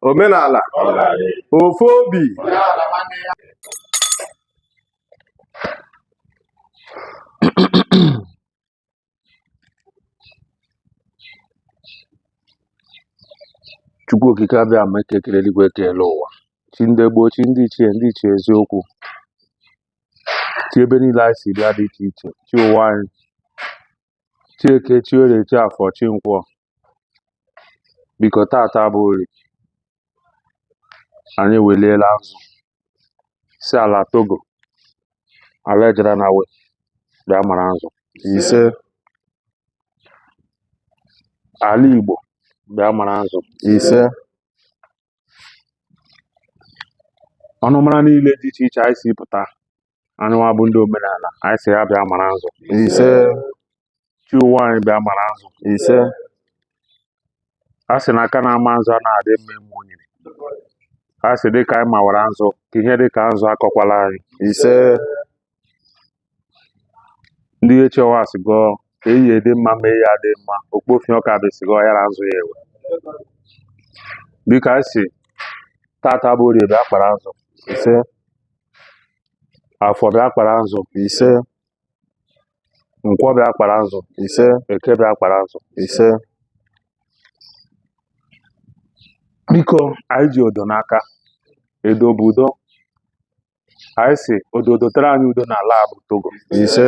omenala ofu obi chukwu okike abịama eke kere eluigwe kee elu ụwa chi ndị gboo chi ndị ichie ndị ichie eziokwu chi ebe niile anyị si bịa dị iche iche chi ụwa anyị chi eke chi orie chi afọ chi nkwọ biko tata bụ orie anyị eweliela nzụ sị ala togo ala ejere na we bịa mara nzụ ise ala igbo bịa mara nzụ ise ọnụmara niile dị iche iche anyị si pụta anyị nwa bụ ndị omenala anyị sị ya bịa mara nzụ ise chi ụwa anyị bịa mara nzụ ise a sị na aka na-ama nzụ a na-adị mma ime onyinye a sị dịka anyị mawara nzụ ka ihe dịka nzụ akọkwala anyị ise ndị ichie nwa asị gọọ ka eyi dị mma ma eyi adị mma okpofie ọka bụ esi gọọ ya na nzụ ya ewe dịka anyị sị tata bụ orie bịa kpara nzụ ise afọ bịa kpara nzụ ise nkwọ bịa kpara nzụ ise eke bịa kpara nzụ ise biko anyị ji odo n'aka edo bụ udo anyị sị odo dotere anyị udo n'ala a bụ togo ise